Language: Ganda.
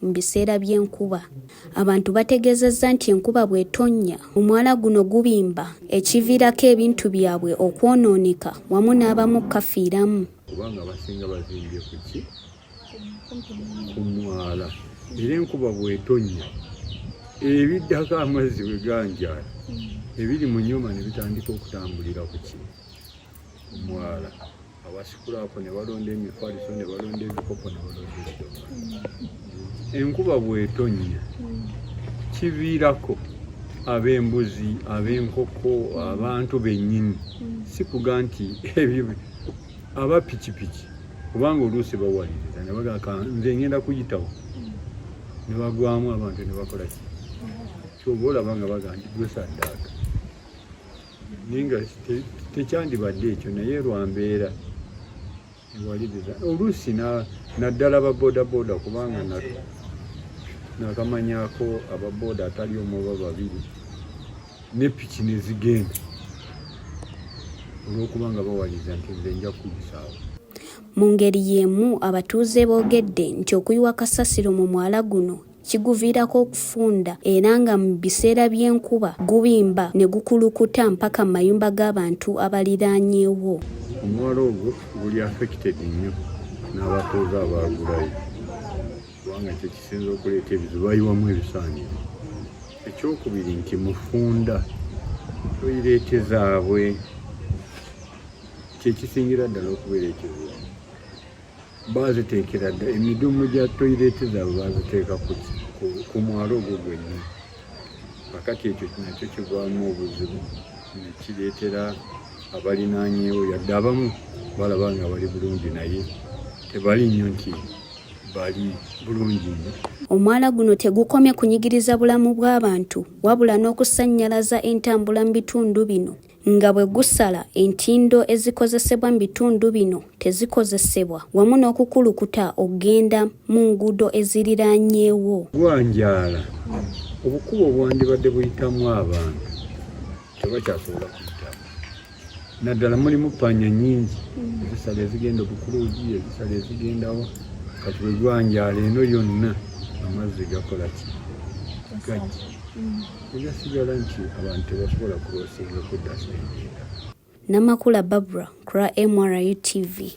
mu biseera by'enkuba. Abantu bategeezezza nti enkuba bw'etonnya omwala guno gubimba ekiviirako ebintu byabwe okwonooneka wamu n'abamu okukafiiramu. Kubanga abasinga bazimbye ku ki ku mwala era enkuba bw'etonnya ebiddako amazzi bwe ganjaala ebiri mu nyuma ne bitandika okutambulira ku ki ku mwala. awasikula ako ne balonda emifaliso ne balonda ebikopo ne balonda ebidoka enkuba bw'etonnya kiviirako ab'embuzi ab'enkoko abantu bennyini sikuga nti ebyo aba pikipiki kubanga oluusi bawaliriza ne bagaka nze ngenda kuyitawo ne bagwamu abantu ne bakola ki kyoba olaba nga baga nti gwesaddaaka naye nga tekyandibadde ekyo naye lwambeera ewaliriza oluusi naddala babodaboda kubanga nakamanyako ababoda atali omuba babiri ne piki nezigenda olwokuba nga bawaliza nti nze nja kuyisaawo mu ngeri y'emu abatuuze boogedde nti okuyiwa kasasiro mu mwala guno kiguviirako okufunda era nga mu biseera by'enkuba gubimba ne gukulukuta mpaka mu mayumba g'abantu abaliraanyeewo. Omwala ogwo guli affected nnyo n'abatuuze abaagulayo kubanga kye kisinza okuleeta ebizibu bayiwamu ebisaaniro. Ekyokubiri nti mufunda toyireete zaabwe kye kisingira ddala okubeera ekizibu. baaziteekera dda emidumu gya toyireeti zaabwe baaziteeka ku mwalo ogwo gwennyini kakati ekyo nakyo kigwamu obuzibu nekireetera abalinaanyeewo yadde abamu balaba nga bali bulungi naye tebali nnyo nti bali bulungi nnyo omwala guno tegukomye kunyigiriza bulamu bw'abantu wabula n'okusannyalaza entambula mu bitundu bino nga bwe gusala entindo ezikozesebwa mu bitundu bino tezikozesebwa wamu n'okukulukuta okugenda mu nguudo eziriraanyeewo. Gwanjaala, obukubo obwandibadde buyitamu abantu tebakyasobola kuyitamu naddala mulimu panya nyingi ezisala ezigenda obukuluugi ezisala ezigendawo kati bwe gwanjaala eno yonna amazzi gakola ki gajja Eyasigala nti abantu tebasobola kulosinga kudda sente. Namakula Barbara, Kra MRU TV.